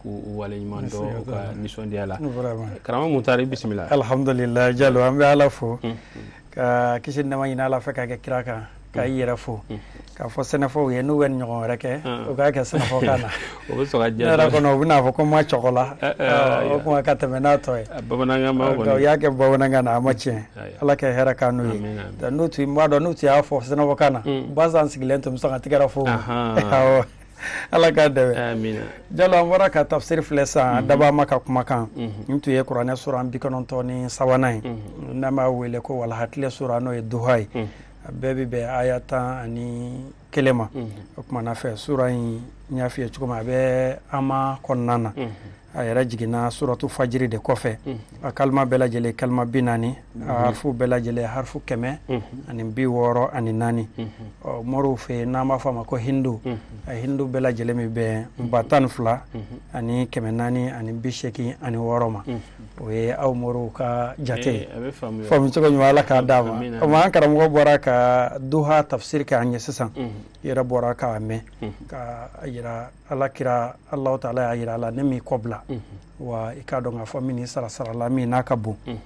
k'u waleɲuman dɔn u ka nisɔndiya la karamɔgɔ mutari bisimila alhamdulila jalo an bɛ ala fo ka kisi ni nɛɛma ɲini ala fɛ ka kɛ kira kan ka i yɛrɛ fo k'a fɔ sɛnɛfɔw ye n'u bɛ nin ɲɔgɔn wɛrɛ kɛ u k'a kɛ sɛnɛfɔkan na o bɛ sɔn ka diya ne yɛrɛ kɔnɔ u bɛn'a fɔ ko ma cɔgɔ la o kuma ka tɛmɛ n'a tɔ ye bamanankan ma kɔni u y'a kɛ bamanankan na a ma tiɲɛ ala ka hɛrɛ k'an n'u ye n tun b'a dɔn n'u tun y'a fɔ sɛnɛfɔkan na bazan sigilen tun bɛ sɔn ka tɛgɛrɛ fɔ awɔ ala k'a dɛmɛ jalo an bɔra ka tafsiri filɛ sisan dabaa ma ka kumakan n tun ye kuranɛ suran bi kɔnɔntɔn ni sabanan ye n'an b'a wele ko walaha tile sura n'o ye duha ye a bɛɛ bɛ bɛn aya tan ani kelen ma o kumana fɛ sura in n y'a f'i ye cogo min a bɛ ama kɔnɔna na a yɛrɛ jiginna suratu fajiri de kɔfɛ a kalima bɛɛ lajɛlen kalima bi naani a harifu bɛɛ lajɛlen harifu kɛmɛ ani bi wɔɔrɔ ani naani ɔ moriw fɛ yen n'an b'a fɔ a ma ko hindu a hindu bɛɛ lajɛlen bɛ bɛn ba tan ni fila ani kɛmɛ naani ani bi seegin ani wɔɔrɔ ma o ye aw moriw ka jate ye faamu cogo ɲuman ala k'a d'an ma komi an karamɔgɔ bɔra ka duha tafsiri kɛ an ye sisan i yɛrɛ bɔra k'a mɛn k'a yira ala kira alahu taala y'a yira a la ne m'i kɔbila mhm. wa i k'a dɔn k'a fɔ n bɛn'i sara sara la min n'a ka bon mhm.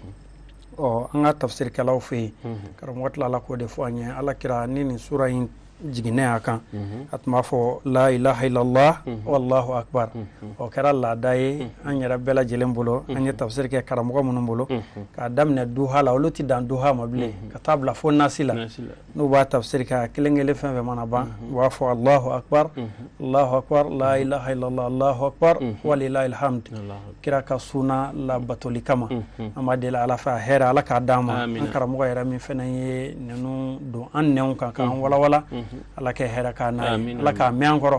ɔ an ka tafsirikɛlaw fɛ yen mhm. karamɔgɔ tilala k'o de fɔ an ye ala kira ni nin sura in jiginnen a kan a tun b'a fɔ la ilaha illallah wallahu akbar o kɛra laada ye an yɛrɛ bɛɛ lajɛlen bolo an ye tafsiri kɛ karamɔgɔ minnu bolo k'a daminɛ duha la olu tɛ dan duha ma bilen ka taa bila fo nasi la n'u b'a tafsiri kɛ a kelen kelen fɛn fɛn mana ban u b'a fɔ Alahu akbar Alahu akbar la ilaha illallah Alahu akbar walilahil hamd kira ka suna labatoli kama an b'a deli Ala fɛ a hɛrɛ Ala k'a d'an ma an karamɔgɔ yɛrɛ min fɛnɛ ye ninnu don an nɛnw kan k'an walawala Ala ka hɛrɛ k'an n'a ye Ala k'a mɛn an kɔrɔ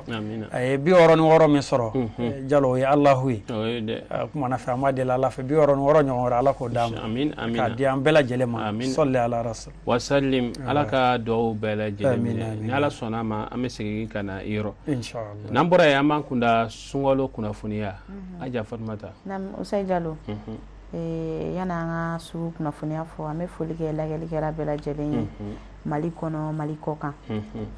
a ye bi wɔɔrɔ ni wɔɔrɔ min sɔrɔ jalo o ye Alahu ye o kumana fɛ an b'a deli Ala fɛ bi wɔɔrɔ ni wɔɔrɔ ɲɔgɔn wɛrɛ Ala k'o d'a ma k'a di an bɛɛ lajɛlen ma sɔli Ala rasuli wasalim ala ka duwawu bɛɛ lajɛlen minɛ ni ala sɔnna a ma an bɛ segin ka na i yɔrɔ n'an bɔra yen an b'an kunda sunkalo kunnafoniya mhm. aja fatumata nse jalo mhm. eh, yan'an ka sugu kunnafoniya fɔ an bɛ foli kɛ lagɛlikɛla bɛɛ lajɛlen ye mhm. mali kɔnɔ mali kɔkan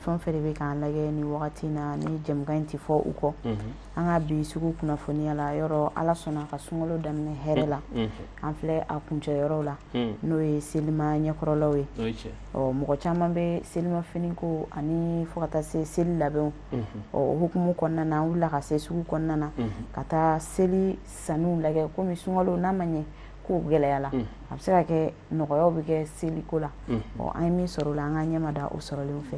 fɛn fɛn de bɛ k'an lagɛ nin wagati na ni jɛmukan in tɛ fɔ u kɔ an ka bi sugu kunnafoniya la yɔrɔ ala sɔnna an ka sunkalo daminɛ hɛrɛ la mm, mm. an filɛ a kuncɛyɔrɔ la mm. n'o ye selima ɲɛkɔrɔlaw ye ɔ mɔgɔ caman bɛ selima fini ko ani fo ka taa se seli labɛnw mm-hmm. ɔ o hukumu kɔnɔna na an wulila ka se sugu kɔnɔna na mm-hmm. ka taa seli sanniw lagɛ komi sunkalo n'a ma ɲɛ kow gɛlɛya la a bɛ se ka kɛ nɔgɔyaw bɛ kɛ seliko la mm-hmm. ɔ an ye min sɔrɔ o la an k'an ɲɛ mada o sɔrɔlenw fɛ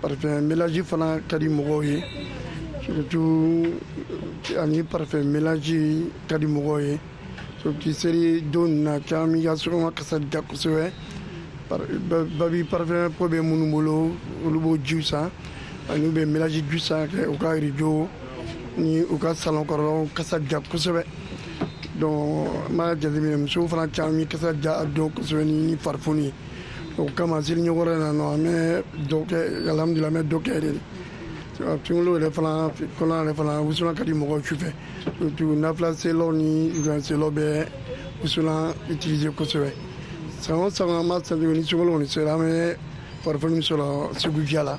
parfum mélange fana ka di mɔgɔw ye surtout euh, ani parfum mélange ka di mɔgɔw ye surtout seli don na caman b'u ka sokɔnɔ kasa diya kosɛbɛ bari parfum ko bɛ minnu bolo olu b'o jiw san ani u bɛ mélange jiw san k'u ka rideau ni u ka salon kɔnɔnaw kasa diya kosɛbɛ donc n b'a jateminɛ musow fana caman bɛ kasa diya dɔn kosɛbɛ ni parfum ye o kama seli ɲɛkɔrɔ na nɔ an bɛ dɔ kɛ alhamdulila an bɛ dɔ kɛ de sunkalo yɛrɛ fana kɔnɔ yɛrɛ fana wusulan ka di mɔgɔw su fɛ surtout nafila selaw ni juwan selaw bɛ wusulan utiliser kosɛbɛ san o san an b'a sentir ni sunkalo kɔni sera an bɛ parfum sɔrɔ sugu diya la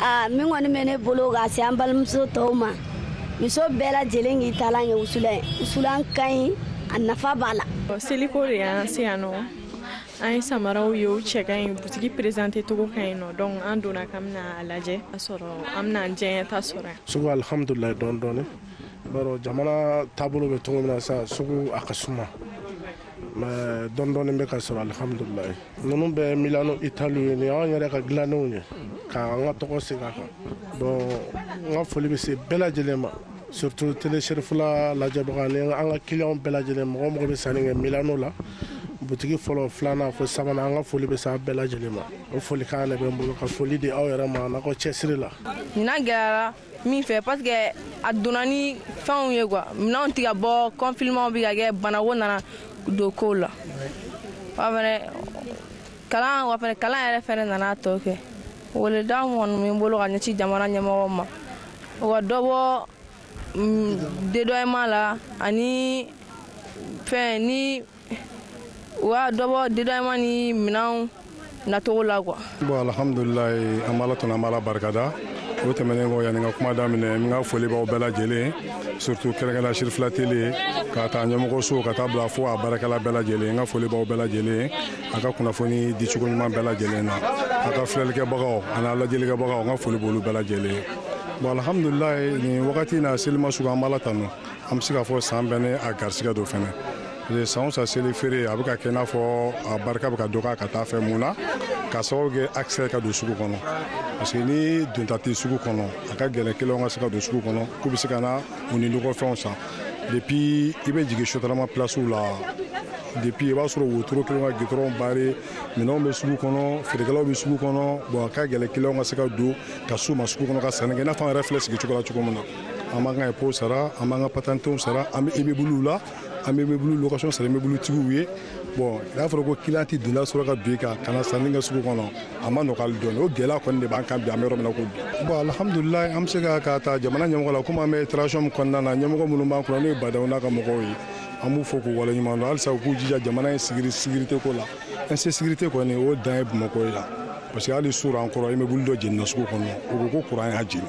aa min kɔni bɛ ne bolo ka se an balimamuso tɔw ma muso bɛɛ lajɛlen k'i taalan ye wusulan ye wusulan ka ɲi a nafa b'a la seliko de y'an se yan nɔ an ye samaraw ye u cɛ ka ɲi butigi perezante cogo ka ɲi nɔ donc an donna k'an bɛna a lajɛ a sɔrɔ an bɛna an diyanyeta sɔrɔ yan sugu alhamdulilayi dɔɔni dɔɔni bawo jamana taabolo bɛ cogo min na sisan sugu a ka suma mais dɔɔni dɔɔni bɛ ka sɔrɔ alihamudulayi ninnu bɛ milano itali ye nin y'an yɛrɛ ka dilannenw ye k'an ka tɔgɔ sigi a kan bon n ka foli bɛ se bɛɛ lajɛlen ma surtout tele serifula lajɛbagaw ni an ka kiliyanw bɛɛ lajɛlen mɔgɔ o mɔgɔ bɛ sanni kɛ milano la butigi fɔlɔ filanan fo sabanan an ka foli bɛ se a bɛɛ lajɛlen ma o folikan de bɛ n bolo ka foli di aw yɛrɛ ma n'aw ka cɛsiri la ɲinan gɛlɛyara min fɛ parce que a donna ni fɛnw ye quoi minɛnw tɛ ka bɔ confinement bɛ ka kɛ banako nana don kow la wa fɛnɛ kalan wa fɛnɛ kalan yɛrɛ fɛnɛ nana tɔ kɛ weleda kɔni bɛ n bolo ka ɲɛsin jamana ɲɛmɔgɔw ma u ka dɔ bɔ mm, dédouanement la ani fɛn ni u ka dɔ bɔ dédouanement ni minɛnw nacogo la quoi bon alhamdulilayi an b'ala tanu an b'ala barikada o tɛmɛnen kɔ yanni n ka kuma daminɛ n ka foli b'aw bɛɛ lajɛlen surtout kɛrɛnkɛrɛnna sirifila tele k'a ta ɲɛmɔgɔso ka t'a bila fo a baarakɛla bɛɛ lajɛlen n ka foli b'aw bɛɛ lajɛlen a ka kunnafoni dicogo ɲuman bɛɛ lajɛlen na a ka filɛlikɛbagaw an'a lajɛlikɛbagaw n ka foli b'olu bɛɛ lajɛlen bon alhamdulilayi nin wagati na selima sugu an b'ala tanu an bɛ se k'a fɔ san bɛɛ ni a garisigɛ don fana san o san seli feere a bɛ ka kɛ i n'a fɔ a barika bɛ ka dɔgɔya ka t'a fɛ mun na k'a sababu kɛ accès ka don sugu kɔnɔ parce que ni donda tɛ sugu kɔnɔ a ka gɛlɛn kiliyanw ka se ka don sugu kɔnɔ k'u bɛ se ka na u ni nɔgɔfɛnw san depuis i bɛ jigin sotarama pilasiw la depuis i b'a sɔrɔ wotoro kɛlen ka gitɔrɔn bare minɛnw bɛ sugu kɔnɔ feerekɛlaw bɛ sugu kɔnɔ bon a ka gɛlɛn kiliyanw ka se ka don ka s'u ma sugu kɔnɔ ka sanni kɛ i n'a fɔ an yɛrɛ filɛ sigi cogo la cogo min na an b'an ka impôt sara an b'an ka patentew sara an bɛ immeublew la an bɛ immeuble location sara immeubletigiw ye bon n'a fɔra ko client tɛ donda sɔrɔ ka don i kan ka na sanni kɛ sugu kɔnɔ a ma nɔgɔ hali dɔɔni o gɛlɛya kɔni de b'an kan bi an bɛ yɔrɔ min na ko bi bon alihamudulilayi an bɛ se ka ka ta jamana ɲɛmɔgɔ la komi an bɛ transition min kɔnɔna na ɲɛmɔgɔ minnu b'an kunna n'o ye ba ndaw n'a ka mɔgɔw ye an b'u fo k'u waleɲuman dɔn halisa u k'u jija jamana in sécuri sécurité ko la insécurité kɔni o dan ye bamakɔ ye la parce que hali surɔ an kɔrɔ immeuble dɔ jenina sugu kɔnɔ u ko ko kuran y'a jeni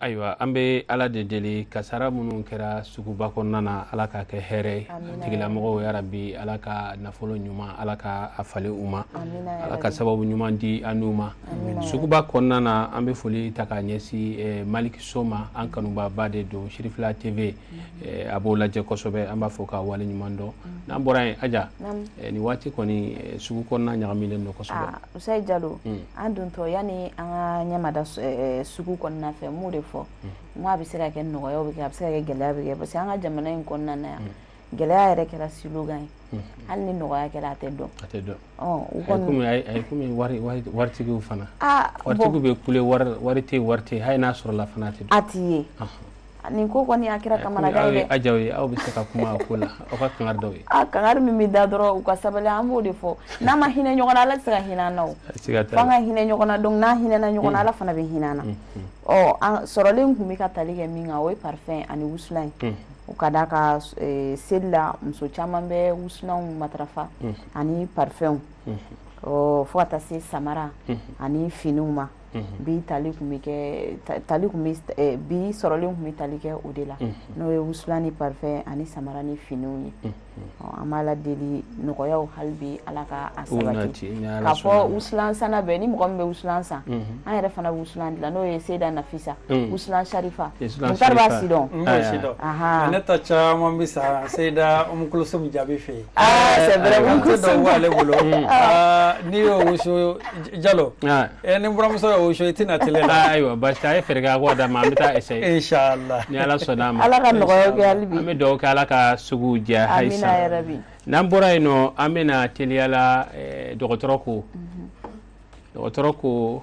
ayiwa an bɛ ala de deli kasara minnu kɛra suguba kɔnɔna na ala k'a kɛ hɛrɛ tigilamɔgɔw yarabi ala ka nafolo ɲuman ala ka a falen u ma ala ka sababu ɲuman di an n'u ma suguba kɔnɔna na an bɛ foli ta k'a ɲɛsin eh, maliki so ma an kanubaba de don cherifla tv eh, a b'o lajɛ kosɛbɛ an b'a fo k'a wale ɲuman dɔn n'an bɔra yen aja eh, nin waati kɔni sugu kɔnɔna ɲagamilen don kosɛbɛ ah. Usayi Jalo un an dontɔ yani an ŋaa ɲɛmada s ɛɛ sugu kɔɔna fɛ mun de fɔ unhun n ko a be se ka kɛ nɔgɔya be kɛ a be se ka kɛ gɛlɛya be kɛ parce que an ŋa jamana in kɔɔna na yan unhun gɛlɛya yɛrɛ kɛra slogan ye unhun hali ni nɔgɔya kɛra a tɛ dɔn a tɛ dɔn ɔɔn u kɔni a ye comme a ye a ye comme wari wari d waritigiw fana aa bon waritigiw be kule wari la wari te ye wari te ye hali n'a sɔrɔla fana a te dɔn a ti ye ɔnhɔn Nin ko kɔni a kɛra kamanagan ye dɛ. Aw ye Aja ye aw bɛ se ka kuma a ko la aw ka kangari da u ye. Aa kangari min bɛ da dɔrɔn u ka sabali an b'o de fɔ n'an ma hinɛ ɲɔgɔn na Ala tɛ se ka hinɛ an na o. Siga t'a la. F'an ka hinɛ ɲɔgɔn na donc n'an hinɛna ɲɔgɔn na Ala fana bɛ hinɛ an na. Ɔ an sɔrɔlen tun bɛ ka tali kɛ min kan o ye parfum ani wusulan ye. O ka d'a kan seli la muso caman bɛ wusulanw matarafa ani parfums ɔ fo ka taa se samara ani finiw ma. bi tali tun bɛ kɛ tali tun bɛ bi sɔrɔlen tun bɛ tali kɛ o de la n'o ye wusulan ni parfum ani samara ni finiw ye an b'ala deli nɔgɔyaw hali bi ala ka a sabati ka fo wusulan sanna bɛɛ ni mɔgɔ min bɛ wusulan san an yɛrɛ fana wusulan dilan n'o ye seda nafisa wusulan sarifa mutari b'a sidɔn ne ta caman bɛ san seda umukulusumu jaabi fɛ yen c'est vrai umukulusumu b'ale bolo n'i y'o wusu jalo ni muso y'o wusu i tɛna tile la ayiwa basi a ye fɛɛrɛ kɛ k'o d'a ma an bɛ taa essayer ni ala sɔnn'a ma an bɛ dugawu kɛ ala ka sugu diya halisa n'an bɔra yen nɔ an bɛna teliya la dɔgɔtɔrɔ ko dɔgɔtɔrɔ ko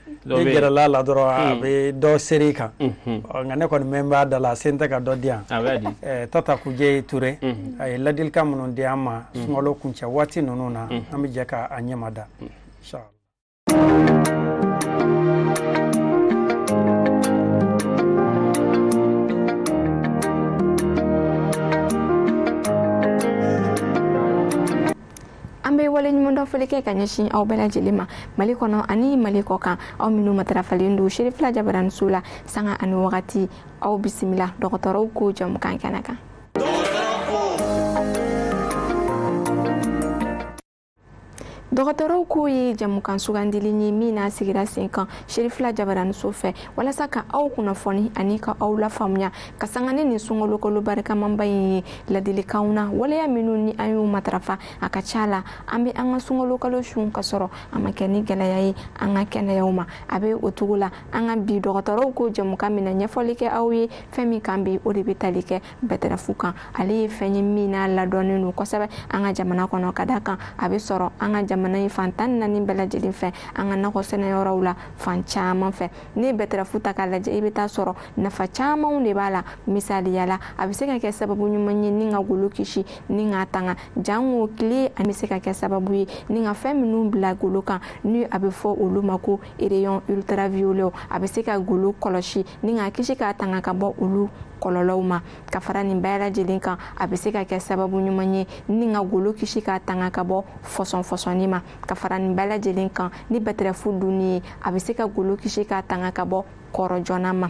n'e gɛrɛl'a la dɔrɔn a hmm. bɛ dɔ seri kan hmm. nka ne kɔni mɛn b'a da la sen tɛ ka dɔ di yan tata kujɛ ture hmm. a ye ladilikan minnu di an ma sunkalo kuncɛ waati ninnu na an bɛ jɛ k'a ɲɛma da an bɛ waleɲumandɔnfoli kɛ ka ɲɛsin aw bɛɛ lajɛlen ma mali kɔnɔ ani mali kɔkan aw minnu matarafalen don serifila jabaraniso la sanga ani wagati aw bisimila dɔgɔtɔrɔw ko jamukan kɛnɛ kan dɔgɔtɔrɔw ko ye jamukan sugandili ye min n'a sigira sen kan serifila jabaraniso fɛ walasa ka aw kunnafoni ani ka aw lafaamuya ka sanga ni nin sunkalo kalo barikamanba in ye laadilikanw na waleya minnu ni an y'u matarafa a ka ca la an bɛ an ka sunkalo kalo sun ka sɔrɔ a ma kɛ ni gɛlɛya ye an ka kɛnɛyaw ma a bɛ o cogo la an ka bi dɔgɔtɔrɔw ko jɛmukan min na ɲɛfɔli kɛ aw ye fɛn min kan bi o de bɛ tali kɛ bɛtɛrɛfu kan ale ye fɛn ye min n'a ladɔnnen don kosɛbɛ an ka jamana kɔnɔ ka d'a kan a bɛ sɔrɔ an ka jamana in fan tan ni naani bɛɛ lajɛlen fɛ an ka nakɔ sɛnɛyɔrɔw la fan caman fɛ n'i ye bɛtɛrɛfu ta k'a lajɛ i bɛ t'a sɔrɔ nafa camanw de b'a la misaliya la a bɛ se ka kɛ sababu ɲuman ye ni ka golo kisi ni k'a tanga jango tile a bɛ se ka kɛ sababu ye ni ka fɛn minnu bila golo kan ni a bɛ fɔ olu ma ko rayon ultraviolet a bɛ se ka golo kɔlɔsi ni k'a kisi k'a tanga ka bɔ olu kɔlɔlɔw ma ka fara nin bɛɛ lajɛlen kan a bɛ se ka kɛ sababu ɲuman ye ni ka golo kisi k'a tanga ka bɔ fɔsɔnfɔsɔnni ma ka fara nin bɛɛ lajɛlen kan ni bɛtɛrɛfu dunni ye a bɛ se ka golo kisi k'a tanga ka bɔ kɔrɔ joona ma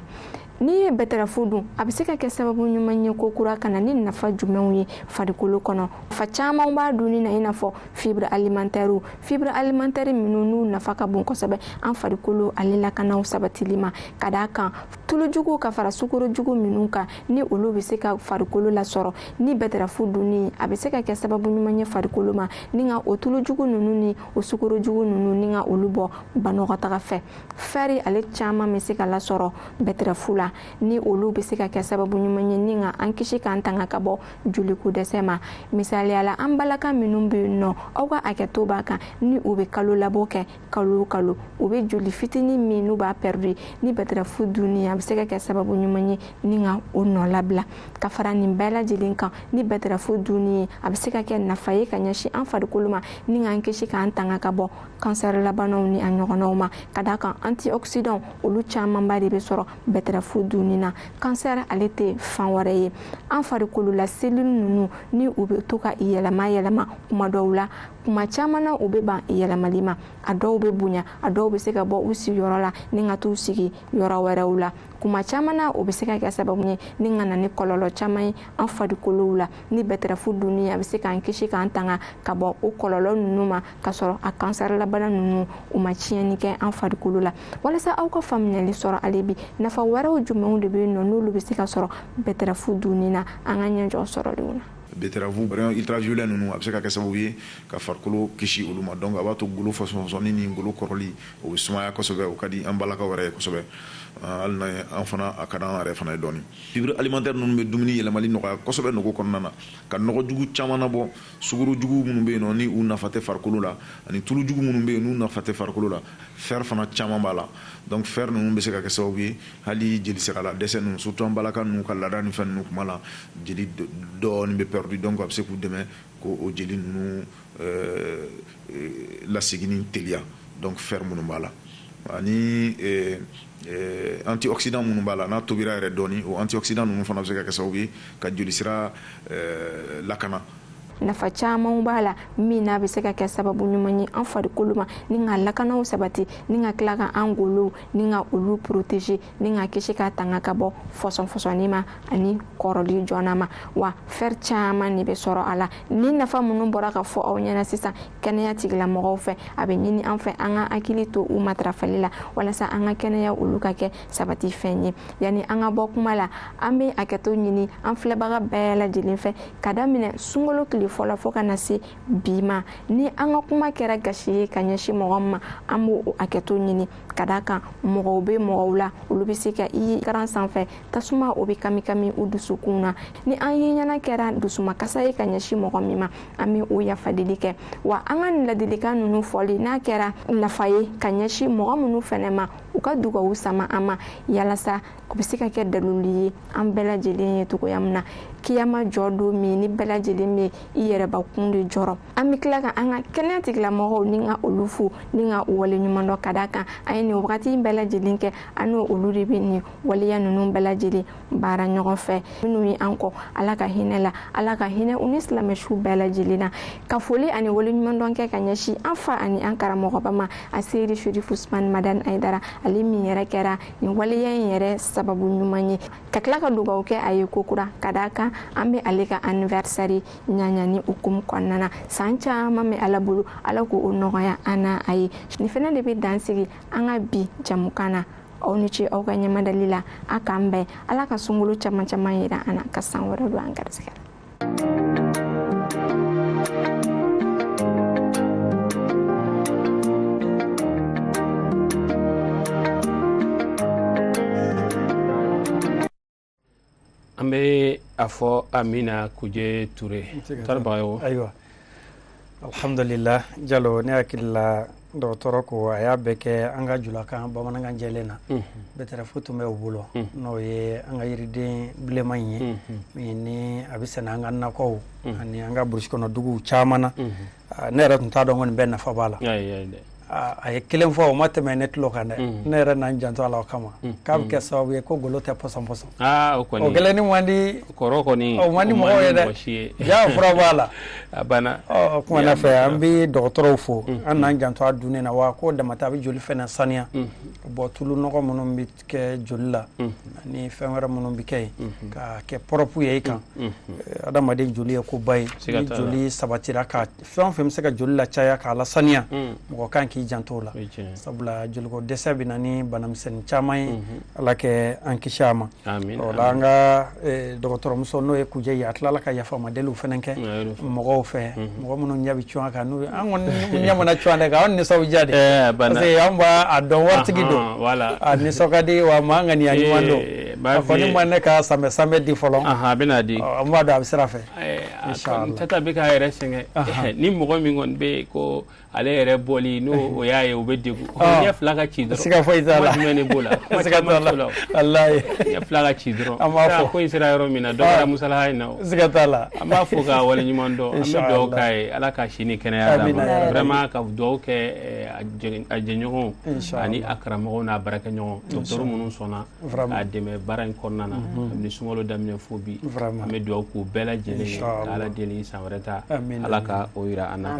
n'i ye bɛtɛrɛfu dun a bɛ se ka kɛ sababu ɲuman ye kokura ka na ni nafa jumɛnw ye farikolo kɔnɔ nafa caman b'a dunni na i n'a fɔ fibre alimantɛriw fibre alimantɛri minnu n'u nafa ka bon kosɛbɛ an farikolo ale lakanaw sabatili ma ka d'a kan tulujugu ka fara sukarojugu minnu kan ni olu bɛ se ka farikolo lasɔrɔ ni bɛtɛrɛfu dunni a bɛ se ka kɛ sababu ɲuman ye farikolo ma ni ka o tulujugu ninnu ni o sukarojugu ninnu ni ka olu bɔ banakɔtaga fɛ fɛri ale caman bɛ se ka lasɔrɔ bɛtɛrɛfu la ni olu bɛ se ka kɛ sababu ɲuman ye ni ka an kisi k'an tanga ka bɔ joliko dɛsɛ ma misaliya la an balaka minnu bɛ yen nɔ aw ka hakɛto b'a kan ni u bɛ kalolabɔ kɛ kalo o kalo u bɛ joli fitinin min n'u b'a pɛridi ni bɛtɛrɛfu dunni a bɛ se ka kɛ sababu ɲuman ye ni ka o nɔlabila ka fara nin bɛɛ lajɛlen kan ni bɛtɛrɛfu dunni ye a bɛ se ka kɛ nafa ye ka ɲɛsin an farikolo ma ni k'an kisi k'an tanga ka bɔ kansɛrilabanaw ni a ɲɔgɔnnaw ma ka d'a kan antioxydant olu camanba de bɛ sɔrɔ bɛtɛrɛfu dunni na kansɛri ale tɛ fɛn wɛrɛ ye an farikolo la selili ninnu ni u bɛ to ka yɛlɛma yɛlɛma kuma dɔw la kuma caman na u bɛ ban yɛlɛmali ma a dɔw bɛ bonya a dɔw bɛ se ka bɔ u sigiyɔrɔ la ni ka t'u sigi yɔrɔ wɛrɛw la kuma caman na o bɛ se ka kɛ sababu ye ni ka na ni kɔlɔlɔ caman ye an farikolow la ni bɛtɛrɛfu dunni a bɛ se k'an kisi k'an tanga ka bɔ o kɔlɔlɔ ninnu ma ka sɔrɔ a kansɛrilabana ninnu u ma tiɲɛni kɛ an farikolo la walasa aw ka faamuyali sɔrɔ ale bi nafa wɛrɛw jumɛnw de bɛ yen nɔ n'olu bɛ se ka sɔrɔ bɛtɛrɛfu dunni na an ka ɲɛjɔ sɔrɔlenw na Betterave ultraviolet ninnu a bɛ se ka kɛ sababu ye ka farikolo kisi olu ma donc a b'a to golo fɔsɔnfɔsɔnni ni golo kɔrɔli o bɛ sumaya kosɛbɛ o ka di an balakaw yɛrɛ ye kosɛbɛ hali n'a ye an fana a ka di an yɛrɛ fana ye dɔɔni fibre alimentaire ninnu bɛ dumuni yɛlɛmali nɔgɔya kosɛbɛ nugu kɔnɔna na ka nɔgɔjugu caman nabɔ sukorojugu minnu bɛ yen ni u nafa tɛ farikolo la ani tulujugu minnu bɛ yen n'u nafa tɛ farikolo la fer fana caman b'a la donc fer ninnu bɛ se ka kɛ sababu ye hali jelisira la dɛsɛ ninnu surtout an balaka ninnu ka laada ni fɛn ninnu kuma la jeli dɔɔni bɛ perdu donc a bɛ se k'u dɛmɛ k'o jeli ninnu euh, euh, laseginni teliya donc fer minnu b'a la ani euh, Eh, antioxydant minnu b'a la n'a tobira yɛrɛ dɔɔni o antioxydant ninnu fana bɛ se ka kɛ sababu ye ka jolisira eh, lakana nafa camanw b'a la min n'a bɛ se ka kɛ sababu ɲuman ye an farikolo ma ni ka lakanaw sabati ni ka tila ka an golow ni ka olu protéger ni ka kisi ka tanga ka bɔ fɔsɔnfɔsɔnni ma ani kɔrɔli joona ma wa fer caman de bɛ sɔrɔ a la ni nafa minnu bɔra ka fɔ aw ɲɛna sisan kɛnɛya tigilamɔgɔw fɛ a bɛ ɲini an fɛ an ka hakili to u matarafali la walasa an ka kɛnɛya olu ka kɛ sabati fɛn ye yanni an ka bɔ kuma la an bɛ hakɛto ɲini an filɛbaga bɛɛ lajɛlen fɛ ka daminɛ sunkalo tile fɔlɔ fo ka na se bi ma ni an ka kuma kɛra gasi ye ka ɲɛsin mɔgɔ ma an b'o hakɛto ɲini ka d'a kan mɔgɔw bɛ mɔgɔw la olu bɛ se ka i ye écran sanfɛ tasuma o bɛ kami kami u dusukun na ni an ye ɲɛna kɛra dusumakasi ye ka ɲɛsin mɔgɔ min ma an bɛ o yafadeli kɛ wa an ka nin ladilikan ninnu fɔli n'a kɛra nafa ye ka ɲɛsin mɔgɔ minnu fɛnɛ ma u ka dugawu sama an ma yalasa o bɛ se ka kɛ dalilu ye an bɛɛ lajɛlen ye cogoya min na kiyama jɔ don min ni bɛɛ lajɛlen bɛ i yɛrɛbakun de jɔrɔ an bɛ tila ka an ka kɛnɛya tigilamɔgɔw ni ka olu fo ni ka u waleɲumandɔn ka d'a kan an ye nin wagati in bɛɛ lajɛlen kɛ an ni olu de bɛ nin waleya ninnu bɛɛ lajɛlen baara ɲɔgɔn fɛ minnu ye an kɔn ala ka hinɛ u la ala ka hinɛ u ni silamɛ suw bɛɛ lajɛlen na ka foli ani waleɲumandɔn kɛ ka ɲɛsin an fa ani an karamɔgɔba ma a seyidi sherifu usmani madani ayidara ale min yɛrɛ kɛra nin waleya in yɛrɛ sababu ɲuman ye ka tila ka dugawu kɛ a ye kokura ka d'a kan an bɛ ale ka anniversaire ɲaɲani hukumu kɔnɔna na san caman bɛ ala bolo ala k'o nɔgɔya an n'a ye nin fana de bɛ dan sigi an ka bi jɛmukan na aw ni ce aw ka ɲɛmadali la a k'an bɛn ala ka sunkalo caman caman yira an na ka san wɛrɛ don an garisɛgɛ an bɛ a fo amina kuje ture taribaga ye ayiwa alhamdulillah jalo ne hakili la dɔgɔtɔrɔ ko a y'a bɛɛ kɛ an ka julakan bamanankan jɛlen na bɛtɛrɛfu tun bɛ u bolo n'o ye an ka yiriden bilenman in ye min ni a bɛ sɛnɛ an ka nakɔw ani an ka burusi kɔnɔ duguw caman na ne yɛrɛ tun t'a dɔn ko nin bɛɛ nafa b'a la a ye kelen fɔ o ma tɛmɛ ne tulo kan dɛ ne yɛrɛ n'an janto a la o kama k'a bɛ kɛ sababu ye ko golo tɛ pɔsɔn pɔsɔn o kelennin man di kɔrɔ kɔni o man di mɔgɔw ye dɛ jaa fura b'a la a banna kuma na fɛ an bɛ dɔgɔtɔrɔw fo an n'an janto a dunni na wa k'o dama tɛ a bɛ joli fɛnɛ saniya bɔ tulu nɔgɔ minnu bɛ kɛ joli la ani fɛn wɛrɛ minnu bɛ kɛ yen k'a kɛ pɔrɔpu ye i kan adamaden joli ye koba ye ni joli sabatira ka fɛn o fɛn bɛ se ka joli lacaya k'a lasaniya mɔgɔ kan k'i janto la sabula joliko dɛsɛ bɛ na ni banamisɛnnin caman ye ala ka an kisi a ma o la an ka Eh, dɔgɔtɔrɔmuso n'o ye kujɛ ye a tilala ka yafama deliw fɛnɛ kɛ mɔgɔw fɛ mhm. mɔgɔ minnu ɲɛ bɛ cun a kan n'u an kɔni ɲa mana cun a de kan an nisɔn bɛ diya de eh, parce que an b'a dɔn waritigi don a nisɔn ka di wa maa ŋaniya ɲuman don eh, a kɔni ma ne ka sanbɛ sanbɛ di fɔlɔ a bɛna di an b'a dɔn a bɛ sira fɛ tata bɛ k'a yɛrɛ sɛgɛn ni mɔgɔ min kɔni bɛ yen ko ale yɛrɛ bɔli n'o y'a ye o bɛ degun o ɲɛ fila ka ci dɔrɔn siga foyi t'a la jumɛn de b'o la kuma caman t'o la walayi ɲɛ fila ka ci dɔrɔn an b'a fɔ ko in sera yɔrɔ min na dɔ kɛra musalaha in na o siga t'a la an b'a fo k'a wale ɲuman dɔn an bɛ dugawu k'a ye ala ka si ni kɛnɛya d'a ma vraiment ka dugawu kɛ a jɛɲɔgɔnw ani a karamɔgɔw n'a baarakɛɲɔgɔn dɔgɔtɔrɔ minnu sɔnna a dɛmɛ baara in kɔnɔna na kabini sunkalo daminɛ fo bi an bɛ dugawu k'u bɛɛ lajɛlen ye ka ala deli san wɛrɛ ta ala ka o yira an na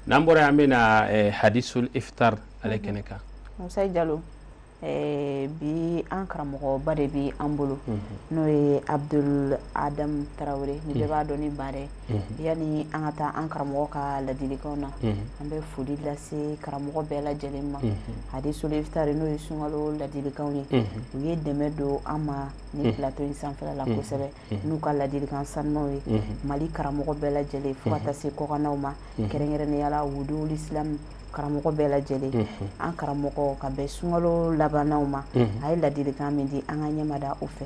n'an bɔra yen an bɛna hadisul ifitar ale kɛnɛ kan musa jalo bi an karamɔgɔba de bɛ an bolo n'o ye abudul adam tarawele min bɛɛ b'a dɔn ni baara yanni an ka taa an karamɔgɔ ka ladilikanw na an bɛ foli lase karamɔgɔ bɛɛ lajɛlen ma hadisul ifitar n'o ye sunkalo ladilikanw ye u ye dɛmɛ don an ma ni plateau in sanfɛla la kosɛbɛ n'u ka ladilikan sanumanw ye mali karamɔgɔ bɛɛ lajɛlen fo ka taa se kɔkannaw ma kɛrɛnkɛrɛnnenya la wuduli islam karamɔgɔ bɛɛ lajɛlen an karamɔgɔ ka bɛn sunkalo labannaw ma a ye ladilikan min di an ka ɲɛma da o fɛ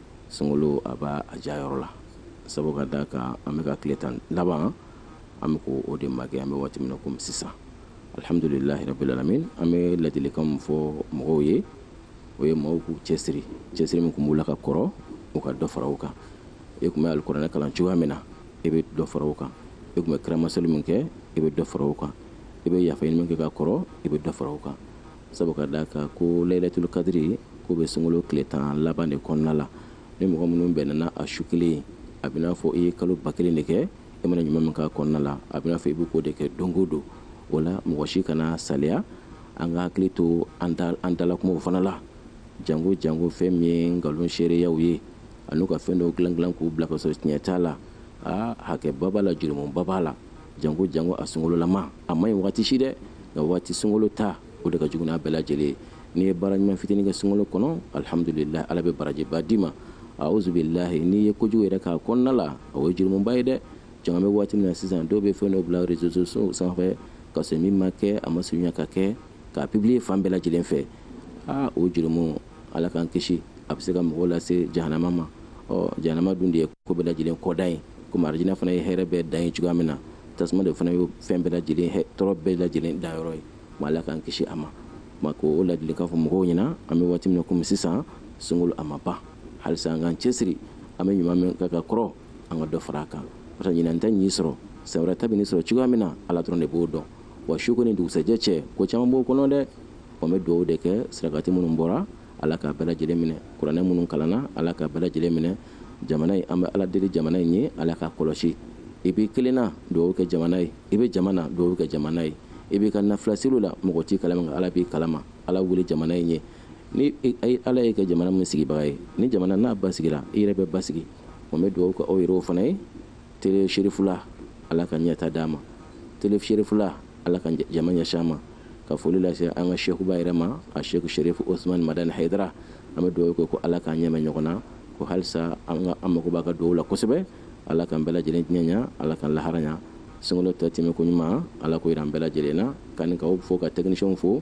sunkalo a b'a ja yɔrɔ la sabu ka da kan an bɛ ka tile tan laban an bɛ k'o de makɛ an bɛ waati min na komi sisan alihamdulilahi rabbil alamin an bɛ ladilikan min fɔ mɔgɔw ye o ye mɔgɔw k'u cɛsiri cɛsiri min tun b'u la ka kɔrɔ u ka dɔ fara o kan e tun bɛ alikuranɛ kalan cogoya min na i bɛ dɔ fara o kan i tun bɛ kiramaseli min kɛ i bɛ dɔ fara o kan i bɛ yafa ɲini min kɛ ka kɔrɔ i bɛ dɔ fara o kan sabu ka d'a kan ko layilatul kadiri k'o bɛ sunkalo tile tan laban de kɔnɔna la ni mɔgɔ minnu bɛnna a su kelen a bɛ n'a fɔ i ye kalo ba kelen de kɛ i mana ɲuman min k'a kɔnɔna la a bɛ n'a fɔ i bɛ k'o de kɛ don o don o la mɔgɔ si kana saliya an ka hakili to an dalakumaw fana la jango jango fɛn min ye nkalon seereyaw ye an'u ka fɛn dɔw dilan dilan k'u bila ka sɔrɔ tiɲɛ t'a la aa hakɛba b'a la jurumuba b'a la janko janko a sunkololama a man ɲi waati si dɛ nka waati sunkolo ta o de ka jugu n'a bɛɛ lajɛlen n'i ye baara ɲuman fitini kɛ sunkolo kɔnɔ alhamdulilahi ala bɛ barajiba d'i ma auzubilahi n'i ye kojugu yɛrɛ k'a kɔnɔna la o ye jurumuba ye dɛ janko an bɛ waati min na sisan dɔw bɛ fɛn dɔ bila réseaux sociaux sanfɛ ka sɔrɔ min ma kɛ a ma surunya ka kɛ k'a publier fan bɛɛ lajɛlen fɛ aa o jurumu ala k'an kisi a bɛ se ka mɔgɔw lase jahanama ma ɔ jahanama dun de ye ko bɛɛ lajɛlen kɔdan ye komi arijinɛ fana ye hɛrɛ bɛɛ dan ye cogoya min na tasuma de fana ye fɛn bɛɛ lajɛlen tɔɔrɔ bɛɛ lajɛlen dayɔrɔ ye ma ala k'an kisi a ma ma ko o ladilikan fɔ mɔgɔw ɲɛna an bɛ waati min na komi sisan sunkolo a ma ban halisa an k'an cɛsiri an bɛ ɲuman min kan ka kɔrɔ an ka dɔ fara a kan barisa ɲinan ta y'i sɔrɔ san wɛrɛ ta bɛ n'i sɔrɔ cogoya min na ala dɔrɔn de b'o dɔn wa su ko ni dugusɛjɛ cɛ ko caman b'o kɔnɔ dɛ wa n bɛ dugawu de kɛ sarakati minnu bɔra ala k'a bɛɛ lajɛlen minɛ kuranɛ minnu kalanna ala k'a bɛɛ lajɛlen minɛ jamana in an bɛ ala deli jamana in ye ala k'a kɔlɔsi i b'i kelenna dugawu kɛ jamana ye i bɛ jama na dugawu kɛ jamana ye i b'i ka nafilaseli la mɔgɔ t'i kalama nka ala b'i kalama ala wele jamana in ye ni ala y'i kɛ jamana min sigibaga ye ni jamana n'a basigira i yɛrɛ bɛ basigi wa n bɛ dugawu kɛ aw yɛrɛw fana ye tele serifula ala ka ɲɛtaa d'a ma tele serifula ala ka jama ɲɛsin a ma ka foli lase an ka sekuba yɛrɛ ma a seku serifu osman madani hayidara an bɛ dugawu kɛ ko ala k'an n'a mɛɛn ɲɔgɔn na ko halisa an mago b'a ka dugawu la kosɛbɛ ala k'an bɛɛ lajɛlen diɲɛ ɲa ala k'an lahara ɲa sunkalo tɔ tɛmɛko ɲuman ala k'o yira an bɛɛ lajɛlen na k'an ni k'aw fo ka tɛkinisiyɛnw fo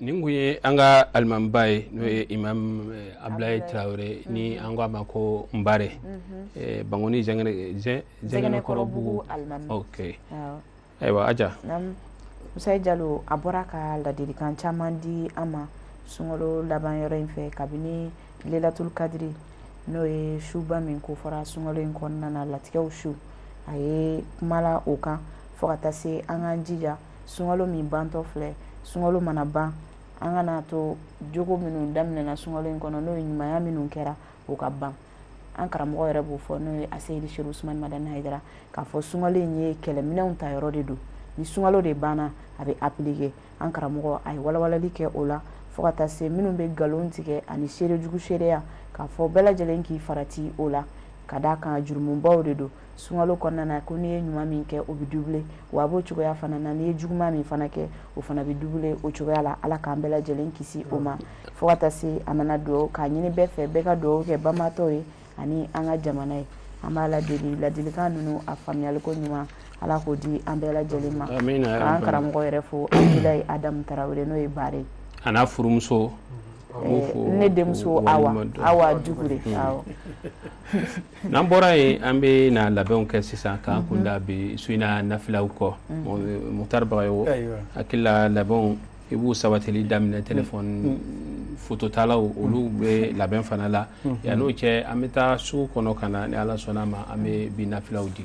nin tun ye an ka alimamiba ye n'o ye imam eh, abdulayi tarawele ni an ko a ma ko nbare mhm. eh, bankoni zɛngɛnɛkɔrɔbugu ok ayiwa aja musayi jalo a bɔra ka ladilikan caman di an ma sunkalo laban yɔrɔ in fɛ kabini lelatul kadiri n'o ye suba min ko fɔra sunkalo in kɔnɔna na latigɛw su a ye kuma la o kan fo ka taa se an k'an jija sunkalo min bantɔ filɛ sunkalo mana ban an kana to jogo minnu daminɛna sunkalo in kɔnɔ n'o ye ɲumanya minnu kɛra o ka ban an karamɔgɔ yɛrɛ b'o fɔ n'o ye aseyidi serifu usumani madani hayidara k'a fɔ sunkalo in ye kɛlɛminɛnw ta yɔrɔ de don ni sunkalo de banna a bɛ apilike an karamɔgɔ a ye walawalali kɛ o la fo ka taa se minnu bɛ nkalon tigɛ ani seerejugu seereya k'a fɔ bɛɛ lajɛlen k'i farati o la ka d'a kan jurumubaw de don sunkalo kɔnɔna na ko n'i ye ɲuman min kɛ o bɛ dubile wa a b'o cogoya fana na n'i ye juguman min fana kɛ o fana bɛ dubile o cogoya la ala k'an bɛɛ lajɛlen kisi o ma fo ka taa se a nana dugawu k'a ɲini bɛɛ fɛ bɛɛ ka dugawu kɛ banabaatɔw ye ani an ka jamana ye an b'ala deli ladilikan ninnu a faamuyaliko ɲuman ala k'o di an bɛɛ lajɛlen ma k'an karamɔgɔ yɛrɛ fo abudulayi adamu tarawele n'o ye baara ye a n'a furumuso ne denmuso awa dukure n'an bɔra yen an bɛ na labɛnw kɛ sisan k'an kunda bi su in na nafilaw kɔ mukutari bagayɔgɔ hakili la labɛnw i b'u sabatili daminɛ telefɔni fototalaw olu bɛ labɛn fana la yan n'o cɛ an bɛ taa sugu kɔnɔ ka na ni ala sɔnna ma an bɛ bi nafilaw di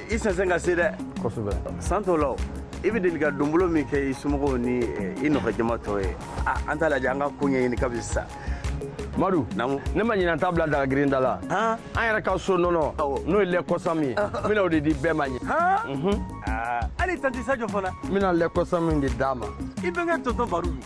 i sɛnsɛn ka se dɛ kosɛbɛ san t'o la o i bɛ deli ka donbolo min kɛ i somɔgɔw ni eh, i nɔfɛ jama tɔ ye an t'a lajɛ an ka ko ɲɛɲini kabini sisan madu naamu ne ma ɲinan t'a bila daga girin da la han an yɛrɛ ka so nɔnɔ Awɔ. n'o ye lɛ kɔsami ye n bɛna o de di bɛɛ ma ɲɛ han Aa, hali tanti sajo fana n bɛna lɛ kɔsami de d'a ma i bɛnkɛ tonton baru